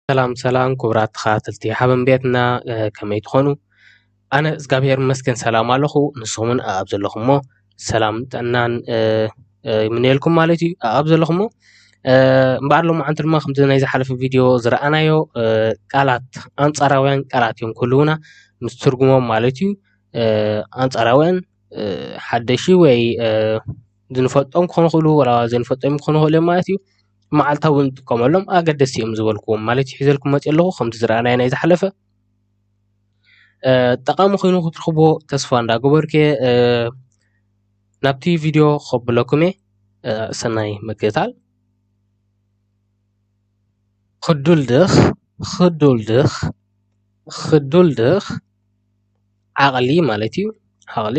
ሰላም ሰላም ኩቡራት ተከታተልቲ ሓበን ቤትና ከመይ ትኮኑ ኣነ እዝጋብሄር ይመስገን ሰላም ኣለኩ ንስኩም ዉን ኣብ ዘለኩሞ ሰላም ጥዕናን ይምነየልኩም ማለት እዩ ኣብ ዘለኩሞ እምበኣር ሎማዓንቲ ድማ ከምቲ ናይ ዝሓለፈ ቪድዮ ዝረኣናዮ ቃላት ኣንጻራውያን ቃላት እዮም ክህልዉና ምስ ትርጉሞም ማለት እዩ ኣንጻራውያን ሓደሺ ወይ ዝንፈልጦም ክኮኑ ይክእሉ ወላ ዘይንፈልጦም ክኮኑ ይክእሉ እዮም ማለት እዩ መዓልታዊ እንጥቀመሎም ኣገደስቲ እዮም ዝበልክዎም ማለት እዩ ሒዘልኩም መፂኣ ኣለኩ ከምቲ ዝረኣናዮ ናይ ዝሓለፈ ጠቃሚ ኮይኑ ክትረክብዎ ተስፋ እንዳገበርኩ እየ ናብቲ ቪድዮ ከብለኩም እየ ሰናይ ምክትታል ክዱልድኽ ክዱልድኽ ክዱልድኽ ዓቅሊ ማለት እዩ ዓቅሊ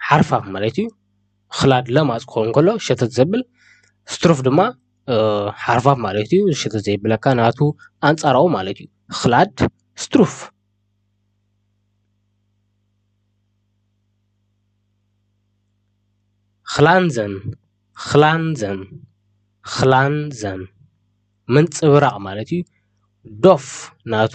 ሓርፋፍ ማለት እዩ። ኽላድ ለማፅ ክኸውን ከሎ ሸተት ዘብል ስትሩፍ ድማ ሓርፋፍ ማለት እዩ። ሸተት ዘየብለካ ናቱ ኣንፃራዊ ማለት እዩ። ኽላድ ስትሩፍ። ኽላንዘን ኽላንዘን ኽላንዘን ምንፅብራቕ ማለት እዩ። ዶፍ ናቱ።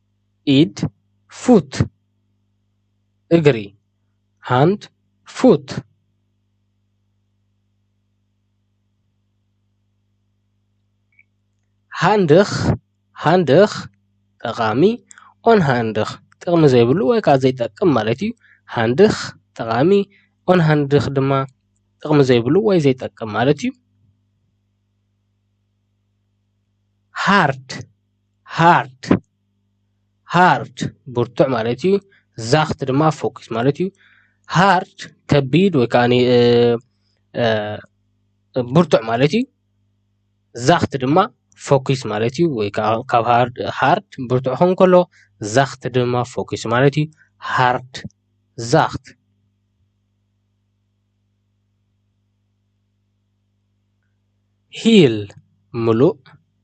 ኢድ፣ Foot፣ እግሪ፣ Hand፣ Foot፣ ሃንድኽ፣ Handich፣ ጠቓሚ፣ Unhandich፣ ጥቕሚ ዘይብሉ ወይ ከኣ ዘይጠቅም ማለት እዩ። ሃንድኽ፣ ጠቓሚ፣ Unhandich፣ ድማ ጥቕሚ ዘይብሉ ወይ ዘይጠቅም ማለት እዩ። ሃርድ፣ ሃርድ ሃርድ ብርቱዕ ማለት እዩ። ዛኽት ድማ ፈኲስ ማለት እዩ። ሃርድ ከቢድ ወይ ከዓኒ ብርቱዕ ማለት እዩ። ዛኽት ድማ ፈኲስ ማለት እዩ። ወይ ከዓ ካብ ሃርድ ሃርድ ብርቱዕ ክኸውን ከሎ ዛኽት ድማ ፈኲስ ማለት እዩ። ሃርድ ዛኽት። ሂል ምሉእ።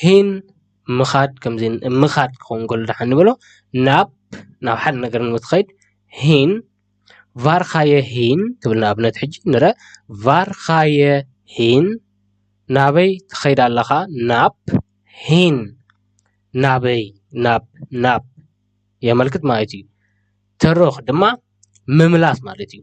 ሂን ምኻድ ከምዘይ ምኻድ ክኸውን ከሎ ድሓን ንበሎ ናብ ናብ ሓደ ነገር ንኸይድ ሂን ቫርኻየ ሂን ትብል ንኣብነት ሕጂ ንረ ቫርኻየ ሂን ናበይ ትኸይድ ኣለኻ ናብ ሂን ናበይ ናብ ናብ የመልክት ማለት እዩ። ተረኽ ድማ ምምላስ ማለት እዩ።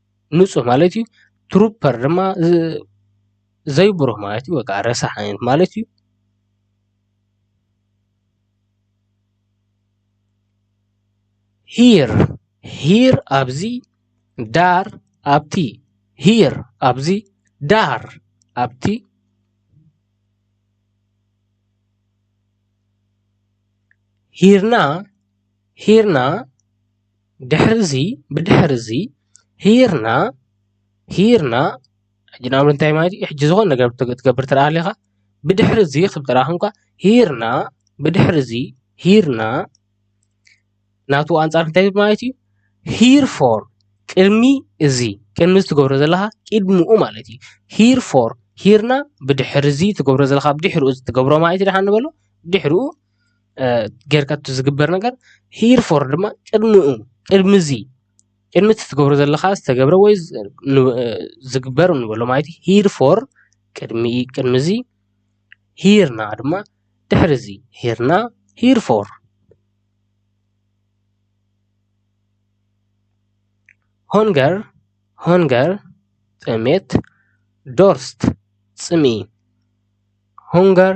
ንፁህ ማለት እዩ። ትሩፐር ድማ ዘይብሩህ ማለት እዩ። በቃ ረሳሕ ዓይነት ማለት እዩ። ሂር ሂር ኣብዚ ዳር ኣብቲ ሂር ኣብዚ ዳር ኣብቲ ሂርና ሂርና ድሕሪ እዚ ብድሕሪ እዚ ሂርና ሂርና ሕጂ ናብ ምንታይ ማለት እዩ ሕጂ ዝኮነ ነገር ክትገብር እንተ ሃሊካ ብድሕሪ እዚ ክብል ጥራይ ኮንካ ሂርና ብድሕሪ እዚ ሂርና ናቱ ኣንጻር እንታይ ማለት እዩ ሂር ፎር ቅድሚ እዚ ቅድሚ እዚ ትገብሮ ዘለካ ቅድሙኡ ማለት እዩ ሂር ፎር ሂርና ብድሕሪ እዚ ትገብሮ ዘለካ ድሕሩ እዚ ትገብሮ ማለት እዩ ድሓን ንበሎ ድሕሩ ጌርካ እቲ ዝግበር ነገር ሂር ፎር ድማ ቅድሚኡ ቅድሚ እዚ ቅድሚ እቲ ትገብሮ ዘለኻ ዝተገብረ ወይ ዝግበር ንበሎ ማለት እዩ ሂር ፎር ቅድሚ እዚ ሂር ናው ድማ ድሕሪ እዚ ሂር ናው ሂር ፎር ሆንገር ሆንገር ጥሜት ዶርስት ፅምኢ ሆንገር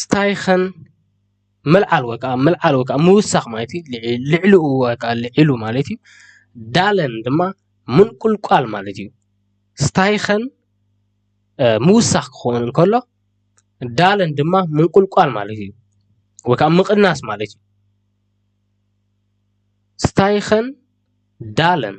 ስታይኸን ምልዓል ወይ ከዓ ምውሳኽ ማለት እዩ። ልዕሊኡ ወይ ከዓ ልዒሉ ማለት እዩ። ዳለን ድማ ምንቁልቋል ማለት እዩ። ስታይኸን ምውሳኽ ክኸውን እንከሎ ዳለን ድማ ምንቁልቋል ማለት እዩ። ወይ ከዓ ምቕናስ ማለት እዩ። ስታይኸን ዳለን።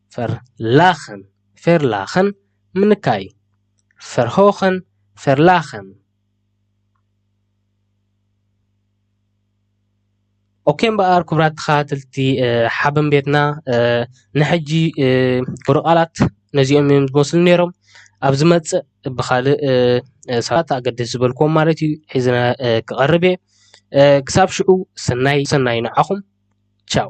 Verlachen፣ ፌርላኸን፣ ምንካይ፣ Verhochen፣ ፌርላኸን። ኦኬ እምበኣር ክቡራት ተኸታተልቲ ሓበን ቤትና ንሕጂ ክብረ ቃላት ነዚኦም እዮም ዝመስሉ ነይሮም ኣብ ዝመፅእ ብካልእ ሰባት ኣገደስ ዝበልክዎም ማለት እዩ ሒዘ ክቐርብ እየ ክሳብ ሽዑ ሰናይ ሰናይ ንዓኹም ቻው